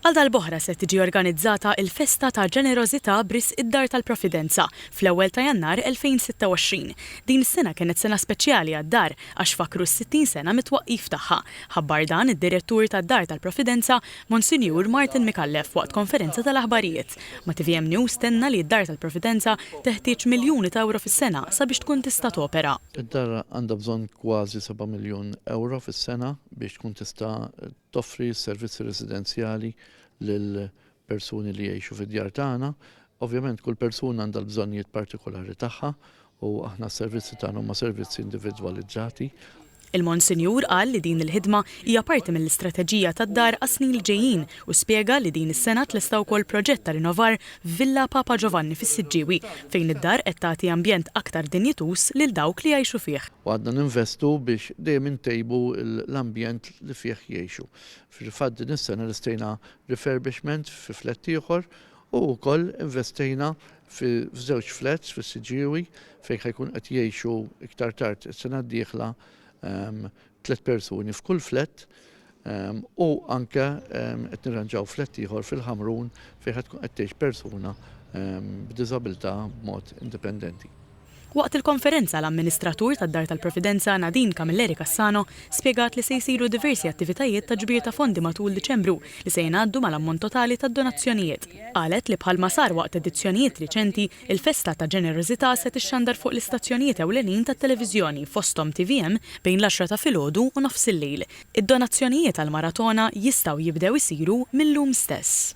Għal darb'oħra se tiġi organizzata il-Festa ta' Ġenerożità b'risq id-Dar tal-Providenza fl-ewwel ta' Jannar 2026. Din is-sena kienet sena speċjali għad-Dar għax fakkru s-60 sena mit-twaqqif tagħha. Ħabbar dan id-Direttur tad-Dar tal-Providenza, Monsinjur Martin Micallef waqt konferenza tal-aħbarijiet. Ma' tvm News tenna li d-Dar tal-Providenza teħtieġ miljuni ta' ewro fis-sena sabiex tkun tista' topera. Id-Dar għandha bżonn kważi seba' miljun ewro fis-sena biex tkun tista' toffri s-servizzi residenzjali lil persuni li jgħixu fid-djar tagħna. Ovvjament kull persuna għandha l-bżonnijiet partikolari tagħha u aħna s-servizzi tagħna huma servizzi individwalizzati. Il-Monsinjur qal li din il-ħidma hija parti mill-istrateġija tad-dar għas-snin li ġejjin u spjega li din is-sena tlesta wkoll proġett ta' rinovar f'Villa Papa Ġovanni fis-Siġġiewi fejn id-dar qed tagħti ambjent aktar dinjituż lil dawk li jgħixu fih. U għadna ninvestu biex dejjem intejbu l-ambjent li fih jgħixu. Fil-fatt din is-sena lestejna refurbishment fi flett ieħor u wkoll investejna f'żewġ flats fis-Siġġiewi fejn ħajkun qed jgħixu iktar tard is-sena d-dieħla ehm, tliet persuni f'kull flett ehm, u anke ehm, qed nirranġaw flett ieħor fil-Ħamrun fejn ħad tkun qed tgħix persuna b'diżabilità b'mod indipendenti. Waqt il-konferenza, l-amministratur tad-Dar tal-Providenza, Nadine Camilleri Cassano, spjegat li se jsiru diversi attivitajiet ta' ġbir ta' fondi matul Diċembru li se jingħaddu mal-ammont totali tad-donazzjonijiet. Qalet li bħalma sar waqt edizzjonijiet riċenti, il-festa ta' ġenerożità se tixxandar fuq l-istazzjonijiet ewlenin tat-televiżjoni fosthom tvm bejn l-għaxra ta' filgħodu u nofs il-lejl. Id-donazzjonijiet għall-maratona jistgħu jibdew isiru mil-lum stess.